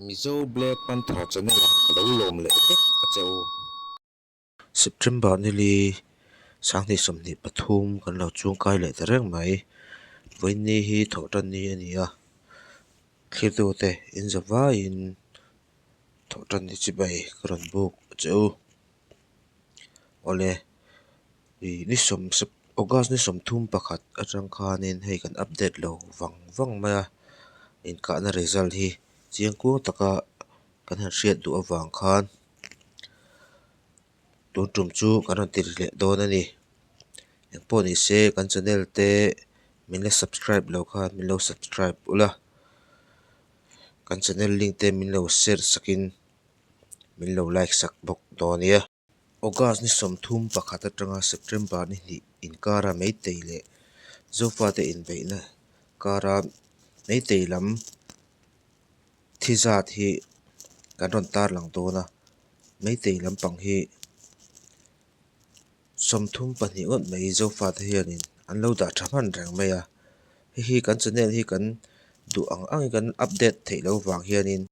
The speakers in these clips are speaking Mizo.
Mizo Black Panther Channel ah ka lo lawm leh vek a che u. September nili sanghnih sawmhnih pathum kan lo chungkai leh ta reng mai. Vawiinni hi thawh tanni a ni a, thlirtute inza vaiin thawh tanni chibai ka rawn buk che u. Awle. Ih ni sawm sep August ni sawm thum pakhat atang khanin hei kan update lo vang vang mai a inkahna result hi chiang kuang taka kan han hriat duh avang khan tun tum chu kan rawn tirh leh dawn a ni eng pawh ni se kan channel te min la subscribe lo khan min lo subscribe ula kan channel link te min lo share sakin min lo like sak bawk dawn a nia. August ni sawmthum pakhat atanga September ni hnih inkara meitei leh zofate inbeihna kara meitei lam thi zat hi kan rawn tarlang dawn a, meitei lampang hi sawmthum pahnih ngawt mai zofate hianin an lo dah tha hman reng mai a, hei hi kan channel hi kan duh ang angin kan update theih loh vang hianin.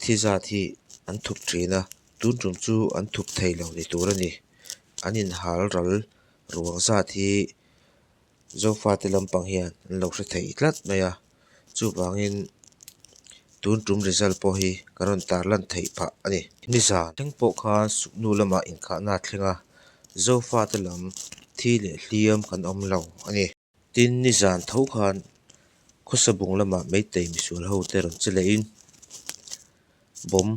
Thi zat hi an thup thin a, tun tum chu an thup thei lo ni tur a ni. An inhal ral ruang zat hi Zofa te lampang hian an lo hre thei tlat mai a, chuvangin tun tum result pawh hi kan rawn tar lan thei phah a ni. Nizan thleng pawh khan suknu lamah inkhahna a thleng a, Zofa te lam thi leh hliam kan awm lo a ni. Tin, ni zan tho khan khawsa bung lamah Meitei misual hote rawn che lehin bawm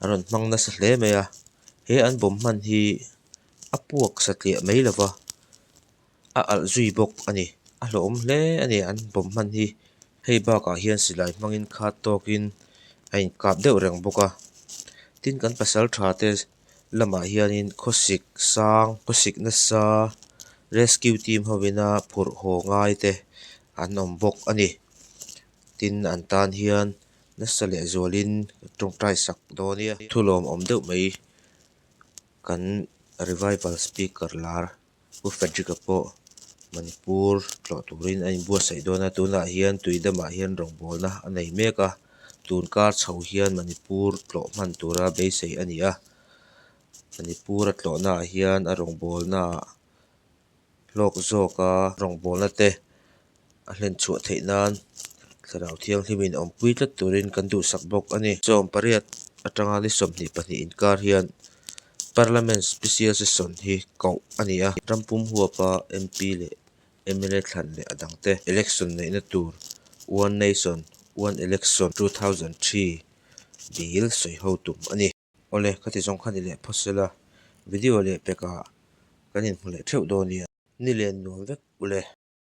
an rawn hmang nasa hle mai a, he an bawm hman hi a puak satliah mai lova a alh zui bawk a ni. A hlawhawm hle a ni an bawm hman hi, hei bakah hian silai hmangin khat tawkin a inkap deuh reng bawk a, tin kan pasal tha te. lamah hianin khawsik sang khawsik nasa rescue team ho ina phurh haw ngai te an awm bawk a ni tin an tan hian nasa leh zual in tawngtai sak dawn nia thu lawm awm deuh mai kan revival speaker lar. Pu Frederick-a pawh Manipur tlawh turin a inbuatsaih dawn a, tunah hian tuidamah hian rawngbawlna a nei mek a, tun kar chho hian Manipur tlawh hman tura beisei a ni a, Manipur-a tlawhnaah hian a rawngbawlnaah hlawk zawka rawngbawlna te a hlen chhuah theih nan thlarau thianghlim in awm pui tlat turin kan duhsak bawk a ni. Chawng pariat atanga ni sawmhnih pahnih inkar hian Parliament Special Session hi koh a ni a, ram pum huapa MP leh mla thlan leh a dang te election neihna tur One Nation, One Election two thousand three bil sawi ho tum a ni. Awle ka ti zawng kha ni leh phaw sela, video leh pekah kan inhmu leh theuh dawn nia. Ni len nuam vek uleh.